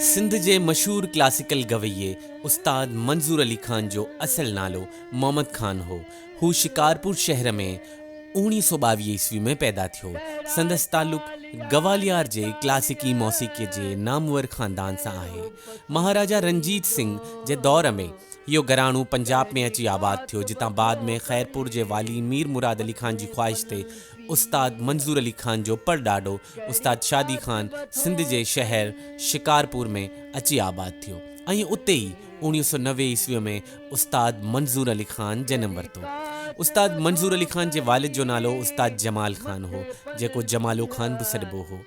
سنڌ جي مشهور ڪلاسيڪل گويئي استاد منظور علي خان جو اصل نالو محمد خان هو. هو شڪارپور شهر ۾ اوڻيهه سؤ ٻاويهه عيسوي ۾ پيدا ٿيو. سندس تعلق گواليار جي ڪلاسيڪي موسيقيء جي نامور خاندان سان آهي. مهاراجا رنجيت سنگهه جي دور ۾. اهو گهراڻو پنجاب ۾ اچي آباد ٿيو، جتان بعد ۾ خيرپور جي والي مير مراد علي خان جي خواهش تي استاد منظور علي خان جو پڙڏاڏو استاد شادي خان سنڌ جي شهر شڪارپور ۾ اچي آباد ٿيو ۽ اتي ئي اوڻيهه سؤ نوي عيسويء ۾ استاد منظور علي خان جنم ورتو. استاد منظور علي خان جي والد جو نالو استاد جمال خان هو، جيڪو جمالو خان به سڏبو هو.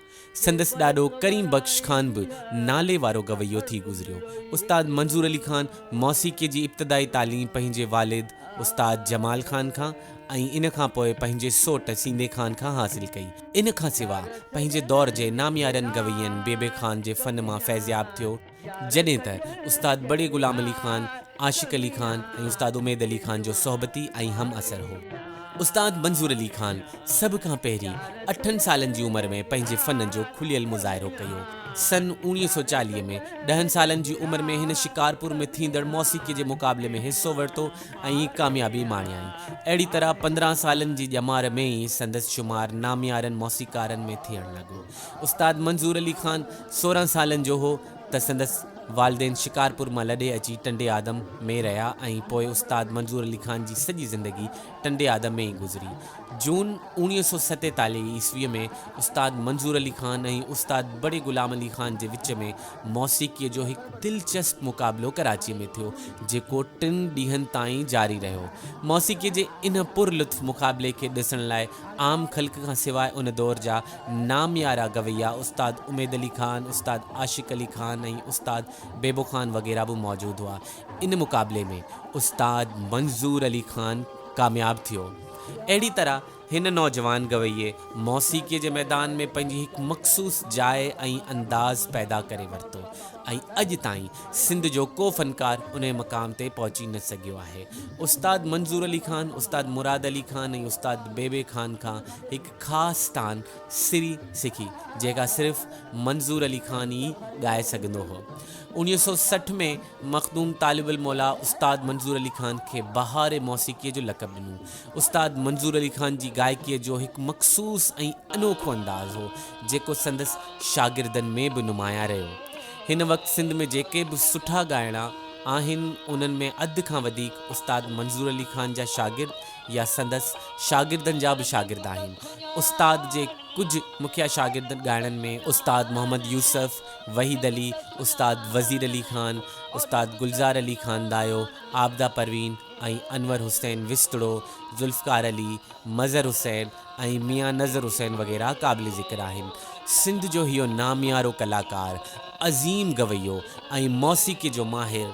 سندس ڏاڏو ڪريم بخش خان به نالي وارو گويو ٿي گذريو. استاد منظور علي خان موسيقيء جي ابتدائي تعليم پنهنجي والد استاد جمال خان کان ۽ ان کان پوء پنهنجي سوٽ سيندي خان کان حاصل ڪئي. ان کان سواء پنهنجي دور جي ناميارن گوين بيبي خان جي فن مان فيضياب ٿيو. جڏهن ته استاد بڙي غلام علي خان، عاشق علي خان ۽ استاد اميد علي خان جو صحبتي ۽ همعصر هو. استاد منظور علي خان سڀ کان پهرين اٺن سالن جي عمر ۾ پنهنجي فن جو کليل مظاهرو ڪيو. سن اوڻيهه سؤ چاليهه ۾ ڏهن سالن جي عمر ۾ هن شڪارپور ۾ ٿيندڙ موسيقيء جي مقابلي ۾ حصو ورتو ۽ ڪاميابي ماڻيائين. اهڙي طرح پندرهن سالن جي ڄمار ۾ ئي سندس شمار ناميارن موسيقارن ۾ ٿيڻ لڳو. استاد منظور علي خان سورهن سالن جو هو ته سندس والدين شڪارپور مان لڏي اچي ٽنڊي آدم ۾ رهيا ۽ پوء استاد منظور علي خان جي سڄي زندگي ٽنڊي آدم ۾ ئي گذري. جون اوڻيهه سؤ ستيتاليهه عيسويء ۾ استاد منظور علي خان ۽ استاد بڙي غلام علي خان جي وچ ۾ موسيقيء جو هڪ دلچسپ مقابلو ڪراچيء ۾ ٿيو، جيڪو ٽن ڏينهن تائين جاري رهيو. موسيقيء جي ان پر لطف مقابلي کي ڏسڻ لاء عام خلق کان سواء ان دور جا ناميارا گويا استاد اميد علي خان، استاد عاشق علي خان ۽ استاد بيبو خان وغيره به موجود هئا. ان مقابلي ۾ استاد منظور علي خان ڪامياب ٿيو. اهڙي طرح هن نوجوان گويي موسيقيء جي ميدان ۾ پنهنجي هڪ مخصوص جاء ۽ انداز پيدا ڪري ورتو ۽ اڄ تائين سنڌ جو ڪو فنڪار انهي مقام تي پهچي نه سگهيو آهي. استاد منظور علي خان استاد مراد علي خان ۽ استاد بيبي خان کان هڪ خاص تان سري سکي جيڪا صرف منظور علي خان ئي ڳائي سگهندو هو. اوڻيهه سؤ سٺ ۾ مخدوم طالب الموليٰ استاد منظور علي خان کي بهار موسيقيء جو لقب ڏنو. استاد منظور علي خان جي گائڪيء جو هڪ مخصوص ۽ انوکو انداز هو جيڪو سندس شاگردن ۾ به نمايان رهيو. هن وقت سنڌ ۾ جيڪي به سٺا ڳائڻا آهن انهن ۾ اڌ کان وڌيڪ استاد منظور علي خان جا شاگرد يا سندس شاگردن جا به شاگرد آهن. استاد جي ڪجهه مکيه شاگرد ڳائڻن ۾ استاد محمد يوسف، وحيد علي، استاد وزير علي خان، استاد گلزار علي خان دايو، عابده پروين ۽ انور حسين وسطڙو، ذوالفقار علي، مظهر حسين، ۽ ميان نظر حسين وغيره قابل ذڪر آهن. سنڌ جو هيو ناميارو ڪلاڪار، عظيم گويو ۽ موسيقي جو ماهر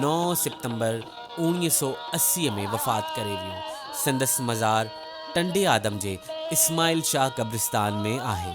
نو سپتمبر اوڻيهه سؤ اسي ۾ وفات ڪري ويو. سندس مزار ٽنڊي آدم جي اسماعيل شاهه قبرستان ۾ آهي.